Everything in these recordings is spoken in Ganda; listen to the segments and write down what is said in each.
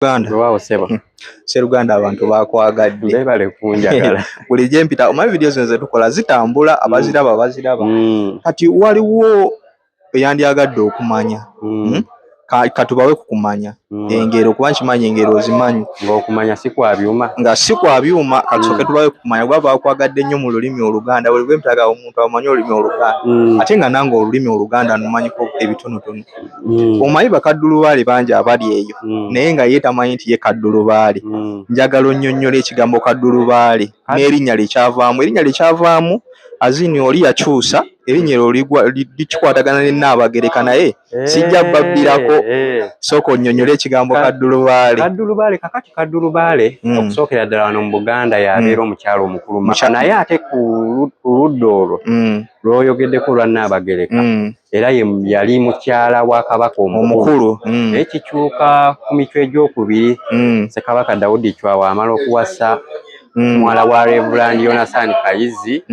Uganda. Wao sebo. Hmm. Sero Uganda abantu bakwagadde. Beba le kunjagala. Kuli je mpita o video zenze tukola zitambula hmm. abaziraba abaziraba. Hmm. Kati wali wo yandi agadde okumanya. Hmm. Ka katubawe kukumanya. Hmm. Engero kuba nkimanyi engero zimanyi. Ngo okumanya si kwa byuma. Nga si kwa byuma kati hmm. katubawe kukumanya gwa bakwagadde nnyo mu lulimi oluganda. Wali gwe mpitaga omuntu amanyi olulimi oluganda. Hmm. Ate nga nango olulimi oluganda numanyi ko ebitono tono. mm. omanyi bakaddulubaale bangi abali eyo mm. naye nga ye tamanyi nti ye kaddulubaale mm. njagala onnyonnyola ekigambo kaddulubaale n'erinnya lyekyavaamu erinnya lyekyavaamu azini oli yakyusa erinnya eryo likikwatagana ne nnaabagereka naye eh, sijja babbirako eh, eh. sooka onnyonnyola ekigambo kaddulubaale kaddulubaale kakati kaddulubaale mm. okusookera ddala wano mu buganda yabeera mm. omukyalo omukulu maka naye ate ku ludda olwo mm. lwoyogeddeko olwa nnaabagereka era yali mukyala wa kabaka omukulu mm. naye kikyuka ku mitwe egyokubiri mm. sekabaka dawudi cwawa amala okuwasa mm. muwala wa revuland yonasan kayizi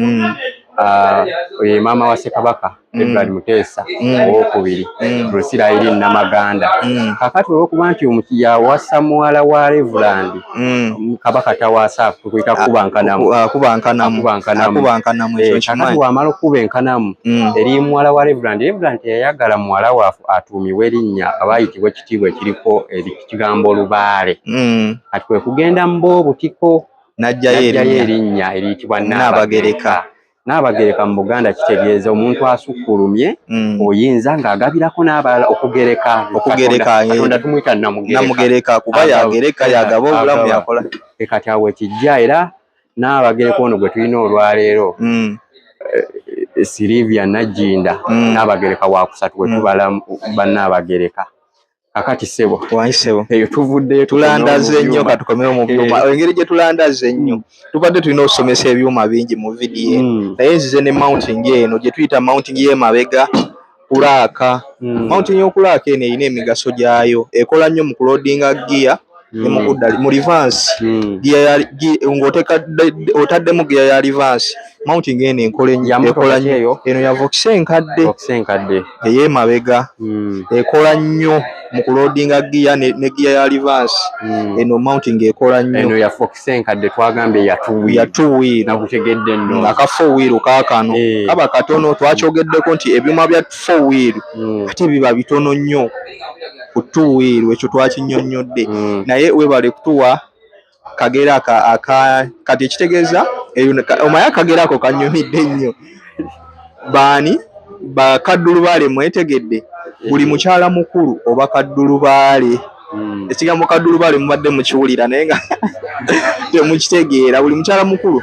ah, oyo ye maama wa sekabaka edward muteesa owokubiri rusirairi namaganda kakati olwokuba nti yawasa muwala wa revuland Mm. kabaka tawaasa kweka kuba nkanamu akuba nkanamu akuba nkanamu ekyo eh, kimanyi kakati wamala okuba enkanamu mm. eri muwala wa reverand reverand yayagala muwala wafu atuumiwe erinnya abayitibwa ekitiibwa ekiriko ekigambo olubaale mm. kati kwe kugenda mu boobutiko najjayo erinnya eriyitibwa naabagereka Nnaabagereka mu Buganda kitegeeza omuntu asukkulumye mm. oyinza ng'agabirako n'abalala okugereka okugerekatonda eh. tumuyita namugereka kuba yagereka yagaba obulamu yakola e kati awo ekijja era n'abagereka ono gwe tulina olwaleero mm. eh, sirivia najjinda mm. naabagereka wakusatu wetubala bannaabagereka kakati sebo wayi sebo eyo tuvudde tulandaze nnyo katukomewo mu byuma eh. engeri gye tulandaze nnyo mm. tubadde tulina okusomesa ebyuma bingi mu vidiyo mm. naye nzize ne mounting eno gye tuyita mounting y'emabega kulaaka mm. mounting y'okulaaka eno erina emigaso gyayo ekola nnyo mu kulodinga giya ne mu kudda mu reverse giya ya ng'oteeka otaddemu giya ya reverse mounting eno enkola ennyo ekola nnyo eno ya vox enkadde vox enkadde ey'emabega ekola nnyo mu kuloodinga giya ne giya ya reverse eno mounting ekola nnyo eno ya vox enkadde twagambye ya two wheel ya two wheel nakutegedde nno nga ka four wheel kaakano kaba katono twakyogeddeko nti ebyuma bya four wheel ate biba bitono nnyo ku tuwiiru ekyo twakinyonnyodde mm. naye webale kutuwa kagera kati ekitegeeza omaya akagera ako kanyumidde nnyo baani bakaddulubaale mwetegedde buli mukyala mukulu oba kaddulubaale mm. ekigambo kaddulubaale mubadde mukiwulira naye nga temukitegeera buli mukyala mukulu